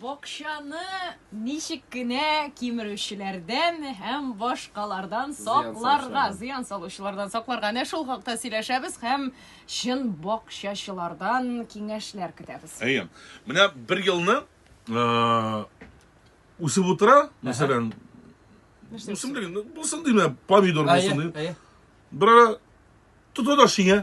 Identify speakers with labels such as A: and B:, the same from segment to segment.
A: Бакчаны ничек кенә кимерүчеләрдән һәм башкалардан сакларга, зыян салучылардан сакларга, әнә шул хакта сөйләшәбез һәм чын бакчачылардан киңәшләр көтәбез. Әйе. Менә
B: бер елны үсеп утыра, мәсәлән, үсемлек, ну, булсын дим, помидор булсын дим. Бер ара тота да шиңә.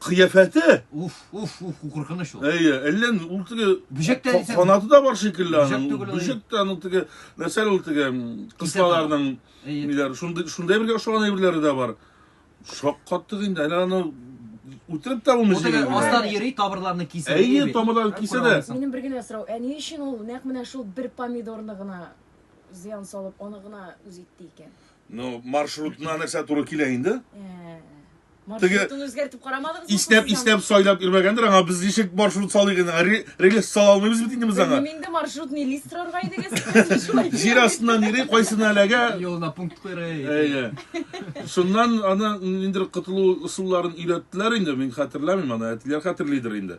B: кыяфәте. Уф, уф, уф,
C: куркыныч ул. Әйе, әллә ул теге
B: Бөҗәк тә дисәң- канаты да бар шикелле Бөҗәк аның. түгел ул. Бөҗәк тә аның теге нәрсәле ул теге м, кыслаларның Әйе. ниләр, шундый шундай бергә ошаган әйберләре дә бар. Шаккаттык инде, әле аны үтереп тә булмый Ул теге җигелгән. астан йөри,
C: табырларны кисә. Әйе, бит. тамырларын Ә, кисә күрә
B: дә. алмыйсың. Минем бер генә сорау, ә ни
A: өчен ул нәкъ менә шул бер помидорны гына зыян салып, аны гына үз итте икән? Ну, маршрутына
B: нәрсә туры килә инде? Ә,
A: Теге Маршрутын үзгәртеп карамадыгыз бу иснәп кыздан? иснәп сайлап
B: йөрмәгәндер аңа без ничек маршрут салыйк инде Ре- рельс сала алмыйбыз бит инде без аңа Белмим инде маршрутный лист
A: рарга идегез. Сез шулай җир дигән. астыннан йөри
B: кайсына эләгә Юлына пункт куйра.
C: Әйе.
B: Шуннан аны ниндер котылу ысулларын өйрәттеләр инде, мин хәтерләмим аны, әтиләр хәтерлидер инде.